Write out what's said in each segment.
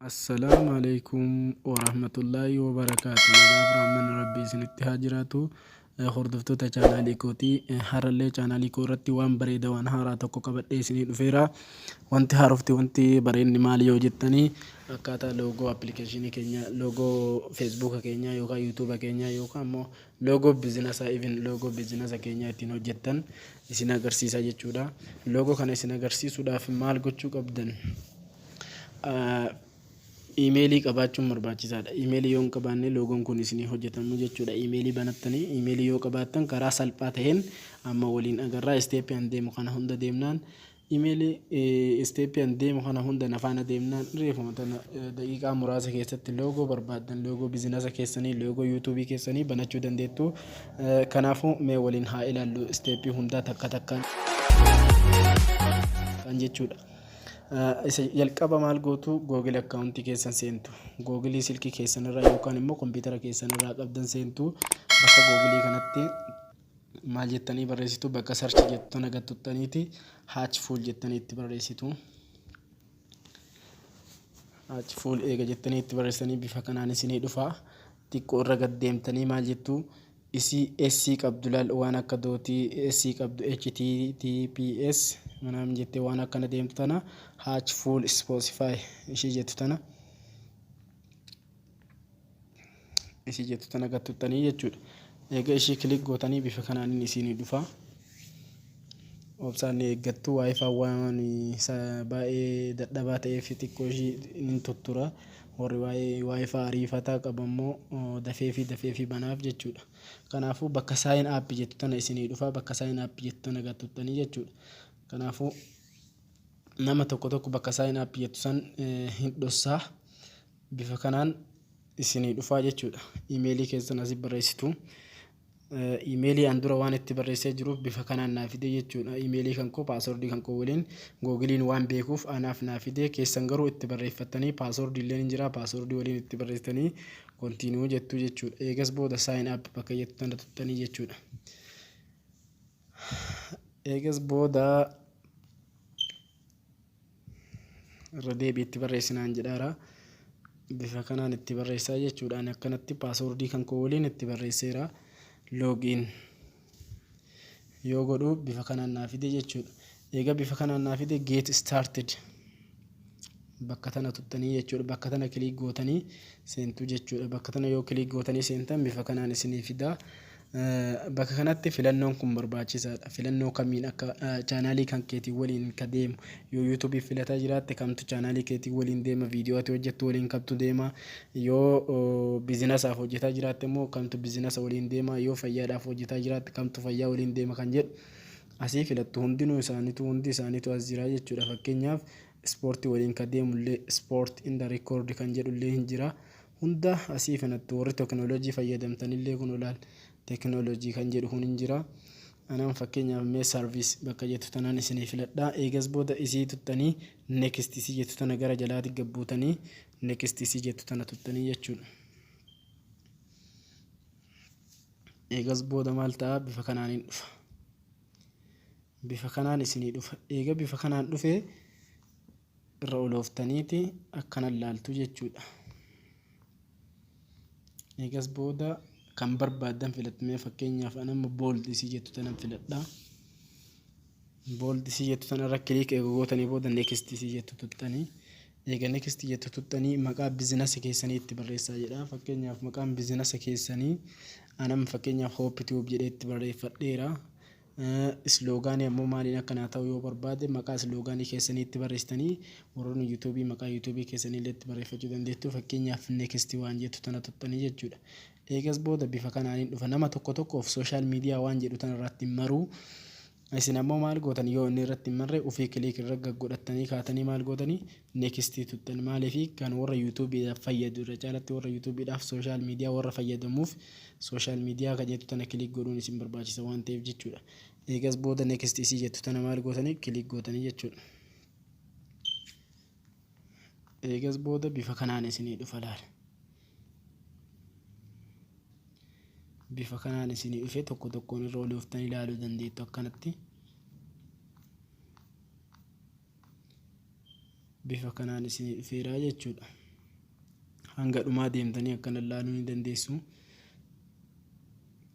Assalaamu alaikum warahmatullaahi wabarakaatu nagaa fi rahmanni rabbii isinitti haa jiraatu Eh, hordoftoota chaanaalii kooti Eh, har'allee chaanaalii koo irratti waan bareeda waan haaraa tokko qabadhee isinii dhufeera wanti haarofti wanti bareenni maali yoo jettanii akkaataa loogoo appilikeeshinii keenya loogoo feesbuuka keenya yookaan yuutuuba keenya yookaan immoo loogoo bizinasa even loogoo bizinasa keenya ittiin hojjettan isin agarsiisa jechuudha. Logo kana isin agarsiisuudhaaf maal gochuu qabdan? Imeelii qabaachuun barbaachisaadha. Imeelii yoo hin qabaanne loogoon kun isinii hojjetamu jechuudha. Imeelii banattanii imeelii yoo qabaattan karaa salphaa ta'een amma waliin agarraa isteeppii an deemu kana hunda deemnaan Imeli step an deemu kana hunda na faana deemnaan reefuma tana daqiiqaa muraasa keessatti loogoo barbaaddan loogoo bizinasa keessanii loogoo yuutuubii keessanii banachuu dandeettu. Kanaafuu mee waliin haa ilaallu steepii hundaa takka takkaan kan jechuudha. Isa jalqaba maal gootu Google akkaawuntii keessan seentu. Google silkii keessan irraa yookaan immoo kompiitara keessan irraa qabdan seentu bakka Google kanatti maal jettanii barreessitu bakka search jettu tana gad tuttaniiti hatch full jettanii itti barreessitu. Hatch full eega jettanii itti barreessanii bifa kanaan isinii dhufa. Xiqqoo irra gad deemtanii maal jettu isii SC qabdu laal waan akka dootii SC qabdu HTTPS manaam jettee waan akkana deemtu tana hatch full spotify ishii jettu tana isii jettu tana gad tuttanii jechuudha. Eega ishii kilik gootanii bifa kanaanin isiinii dhufa. Obsaan ni eeggattu waayifaan waan baay'ee dadhabaa ta'eef xiqqoo ishii nin tuttura. Warri waayifaa ariifataa qabu ammoo dafee fi dafee fi banaaf jechuudha. Kanaafuu bakka saayin aappi jettu tana isinii dhufa bakka saayin aappi jettu tana gad tuttanii jechuudha. Kanaafuu nama tokko tokko bakka saayin aappi jettu san hin dhossaa. Bifa kanaan isinii dhufaa jechuudha. Email keessan asi barreessitu. Email an dura waan itti barreessee jiruuf bifa kanaan naa fidee jechuudha. Email kan koo password kan koo waliin googiliin waan beekuuf anaaf naa fidee keessan garuu itti barreeffattanii password illee ni jira password waliin itti barreessitanii continue jettuu jechuudha. Eegas booda sign up bakka jettu tana tuttanii jechuudha. Eegas booda irra deebii itti barreessinaan jedhaara. Bifa kanaan itti barreessaa jechuudha. Ani akkanatti paaswordii kan koo waliin itti barreesseera. Loogiin yoo godhu bifa kanaan naa fide jechuudha. Egaa bifa kanaan naa fide get started bakka tana tuttanii jechuudha. Bakka tana kiliik gootanii seentuu jechuudha. Bakka tana yoo kiliik gootanii seentan bifa kanaan isinii fidaa. Bakka kanatti filannoon kun barbaachisaadha. Filannoo kamiin akka chaanaalii kan keetii waliin ka deemu. Yoo YouTube filataa jiraatte kamtu chaanaalii keetii waliin deema, viidiyoo ati hojjettu waliin kamtu deema, yoo biizinasaaf hojjetaa jiraatte immoo kamtu biizinasa waliin deema, yoo fayyaadhaaf hojjetaa jiraatte kamtu fayyaa waliin deema kan jedhu asii filattu. Hundinuu isaaniituu, hundi isaaniituu as jira jechuudha. Fakkeenyaaf ispoortii waliin ka deemullee sport in the record kan jedhullee hin jira. Hunda asii kanatti warri teknolojii fayyadamtan illee kun olaal teknolojii kan jedhu kun hin jira. Anaan fakkeenyaaf mee sarviis bakka jettu tanaan isinii filadhaa. Eegas booda isii tuttanii next isii jettu tana gara jalaati gabbuutanii next isii jettu tana tuttanii jechuudha. Eegas booda maal ta'a bifa kanaan hin dhufa. Bifa kanaan isinii dhufa. Eega bifa kanaan dhufee irra olooftaniiti akkana laaltu jechuudha. Eegas booda kan barbaaddan filatmee fakkeenyaaf anamma bold isii jettu tanan filadha. Bold isii jettu tanarra kiliik eega gootanii booda next isii jettu tuttanii. Eega next jettu tuttanii maqaa bizinasi keessanii itti barreessaa jedha. Fakkeenyaaf maqaan bizinasa keessanii anamma fakkeenyaaf hoop tube jedhee itti barreeffadheera. Isloogaanii ammoo maaliin akka naa ta'u yoo barbaade maqaa isloogaanii keessanii itti barreessitanii warroonni yuutuubii maqaa yuutuubii keessanii illee itti barreeffachuu dandeettu fakkeenyaaf next waan jettu tana tuqxanii jechuudha. Eegas booda bifa kanaaniin dhufa nama tokko tokkoof social media waan jedhu tana irratti hin maruu isin ammoo maal gootan yoo inni irratti hin marre ufii click irra gaggodhattanii kaatanii maal gootanii Next tuxxan maaliif kan warra YouTube dhaaf fayyadu irra caalatti warra YouTube dhaaf social media warra fayyadamuuf social media kan jettu tana click godhuun isin barbaachisa waan ta'eef jechuudha. Eegas booda next isii jettu tana maal gootanii click gootanii jechuudha. Eegas booda bifa kanaan isinii dhufa laala. Bifa kanaan isinii dhufe tokko tokkoon irra olooftanii ilaaluu dandeettu akkanatti. bifa kanaan isinii dhufeeraa jechuudha. Hanga dhumaa deemtanii akkana ilaaluu ni dandeessu.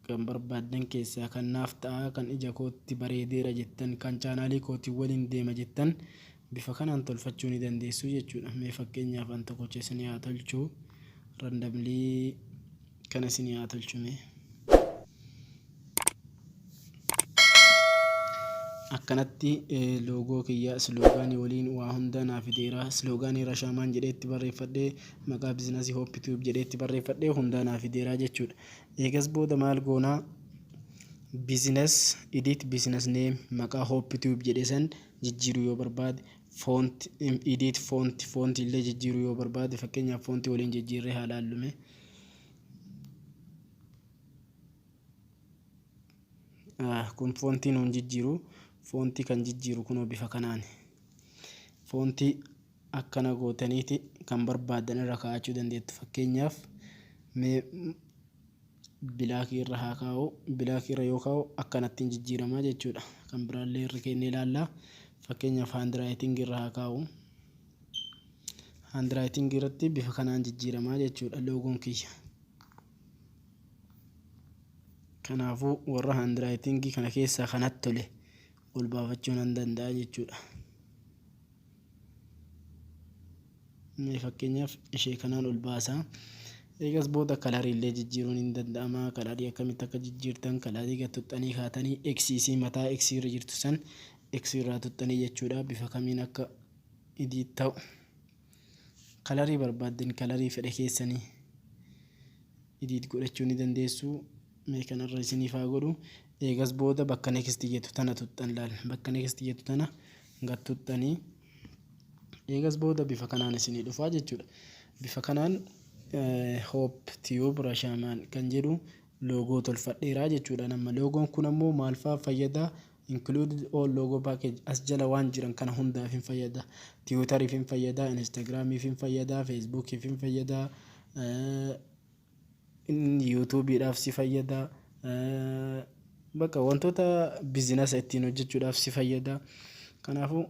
Kan barbaaddan keessaa kan naaf ta'a, kan ija kootti bareedeera jettan, kan chaanaalii kootiin waliin deema jettan bifa kanaan tolfachuu ni dandeessu jechuudha. Mee fakkeenyaaf an tokkocha isinii haa tolchu. Randamlii Kana isinii haa tolchu mee. Akkanatti loogoo kiyya isloogaanii waliin waa hunda naa fideera. Isloogaanii Rashaamaan jedhee itti barreeffadhe, maqaa bizinasii Hope Tube jedhee itti barreeffadhe hundaa naa fideera jechuudha. Eegas booda maal goona? Business edit business name maqaa Hope Tube jedhe san jijjiiruu yoo barbaade font edit font font illee jijjiiruu yoo barbaade fakkeenyaaf font waliin jijjiirree haa laallu mee. Kun foontii nuun jijjiiru foontii kan jijjiiru kunoo bifa kanaan foontii akkana gootaniiti kan barbaadan irra kaa'achuu dandeettu fakkeenyaaf mee bilaakii irra haa kaa'u bilaakii irra yoo kaa'u akkanattiin jijjiiramaa jechuudha kan biraallee irra keennee ilaalla fakkeenyaaf haandiraayitingii irra haa kaa'u. Handwriting irratti bifa kanaan jijjiiramaa jechuudha loogoon kiyya. Kanaafuu warra handwriting kana keessaa kanatti tole ol baafachuu nan danda'a jechuudha. Mee fakkeenyaaf ishee kanaan ol baasaa. Eegas booda kalarii illee jijjiiruun hin danda'ama. Kalarii akkamitti akka jijjiirtan kalarii gad tuttanii kaatanii eksiisii mataa eksii irra jirtu san eksii irraa tuttanii jechuudha bifa kamiin akka edit ta'u kalarii barbaaddan kalarii fedha keessanii edit godhachuu ni dandeessu mee kanarra isiniif haa godhu eegas booda bakka next jettu tana tuxxan laal bakka next jettu tana gad tuxxanii eegas booda bifa kanaan isinii dhufaa jechuudha bifa kanaan hope tube rashamaan kan jedhu loogoo tolfadheeraa jechuudha amma loogoon kun ammoo maal fa'aa fayyada Included all logo package as jala waan jiran kana hundaafin fayyada. Tiwutarifin fayyada, Instagramifin fayyada, Facebookifin fayyada, YouTubeidhaaf si fayyada, baqa wantoota bizinasa ittiin hojjechuudhaaf si fayyada. Kanaafuu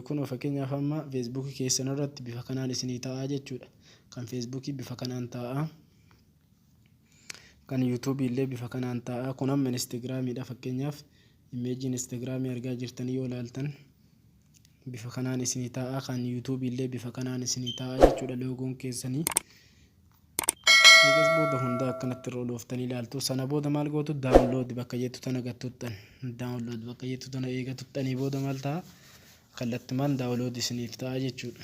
kunoo fakkeenyaaf amma Facebook keessan irratti bifa kanaan isinii ta'a jechuudha. Kan Facebook bifa kanaan ta'a. kan yuutuubii illee bifa kanaan ta'a kun amma instagiraamiidha fakkeenyaaf imeejii instagiraamii argaa jirtan yoo ilaaltan bifa kanaan isinii ta'a kan yuutuubii illee bifa kanaan isinii ta'a jechuudha loogoon keessanii eegas booda hundaa akkanatti irra olooftanii ilaaltu sana booda maal gootu daawunlood bakka jettu tana gattuttan daawunlood bakka jettu tana eega tuttanii booda maal ta'a kallattumaan daawunlood isiniif ta'a jechuudha.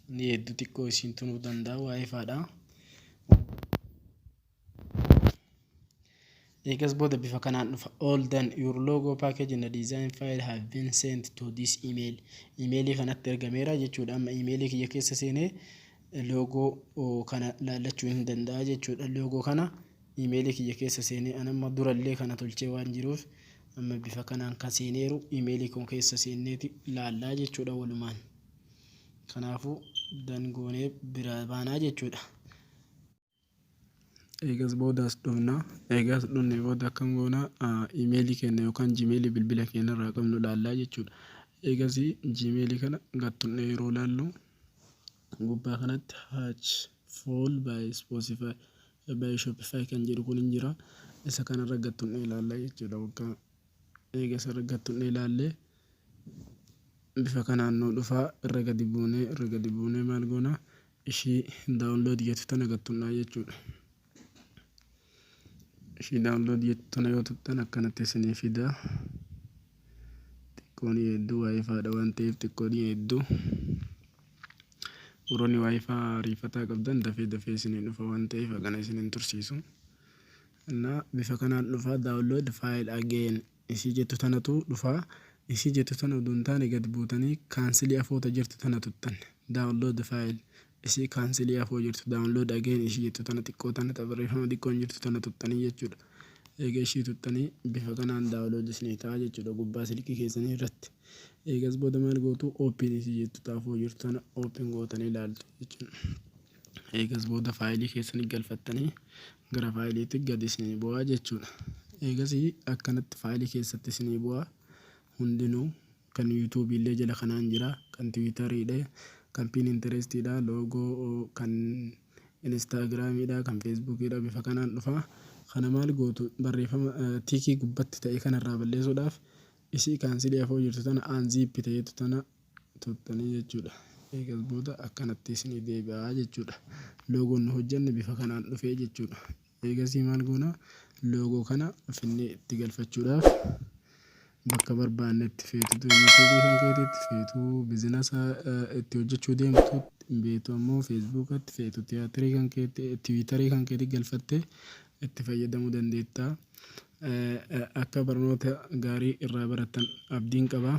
Ni hedduu xiqqoo isiin tunuu danda'a waa ifaadha. Eegas booda bifa kanaan dhufa. All done. Your logo package and design file have been sent to this email. Imeelii kanatti ergameera jechuudha. Amma imeelii kiyya keessa seenee loogoo kana laallachuu hin danda'a jechuudha. Loogoo kana imeelii kiyya keessa seenee an amma durallee kana tolchee waan jiruuf amma bifa kanaan kan seeneeru imeelii koo keessa seenneeti laallaa jechuudha walumaan. Kanaafuu dan goonee biraa baanaa jechuudha. Eegas booda as dhufna. Eegaa as dhufne booda akkam goona imeelii keenya yookaan jimeelii bilbila keenya irraa qabnu ilaallaa jechuudha. Eegas jimeelii kana gad tuqnee yeroo ilaallu gubbaa kanatti hatch full by spotify by shopify kan jedhu kun hin jira. Isa kanarra gad tuqnee ilaallaa jechuudha. Waggaa eegas irra gad tuqnee ilaallee Bifa kanaan nuu dhufa irra gadi buunee irra gadi buunee maal goona ishii download jettu tana gad tuqnaa jechuudha. Ishii download jettu tana yoo tuqxan akkanatti isinii fida. Xiqqoon hedduu waayifaadha waan ta'eef xiqqoon hedduu. Warroonni waayifaa ariifataa qabdan dafee dafee isinii dhufa waan ta'eef hagana isin hin tursiisu. Innaa bifa kanaan dhufa download file again isii jettu tanatu dhufa isii jettu tana udu hin taane gad buutani kaansili afoo ta jirtu tana tuttan download file isii kaansili afoo jirtu download again isii jettu tana xiqqoo tana ta barreeffama xiqqoon jirtu tana tuttanii jechuudha eega ishii tuttanii bifa kanaan download isinii ta'a jechuudha gubbaa silkii keessanii irratti eegas booda maal gootu open isii jettu ta afoo jirtu tana open gootanii ilaaltu jechuudha Eegas booda faayilii keessan galfattanii gara faayiliitti gad isinii bu'aa jechuudha. Eegasii akkanatti faayilii keessatti isinii bu'aa hundinuu kan yuutuubii illee jala kanaan jira kan tiwiitariidha kan piininterestiidha loogoo kan inistaagiraamiidha kan feesbuukiidha bifa kanaan dhufa. Kana maal gootu barreeffama tiikii gubbatti ta'e kanarraa balleessuudhaaf isii kaansilii hafoo jirtu tana anziippi ta'etu tana turtanii jechuudha. Eegas booda akkanatti isinii deebi'aa jechuudha. Loogoon nu hojjanne bifa kanaan dhufee jechuudha. Eegasii maal goona loogoo kana finnee itti galfachuudhaaf bakka barbaannetti feetutu yuutuubii kan keetitti feetuu bizinasa itti hojjachuu deemtu beetu ammoo feesbuukatti feetu tiyaatirii kan keetti tiwiitarii kan keetti galfattee itti fayyadamuu dandeettaa. Akka barnoota gaarii irraa barattan abdiin qabaa.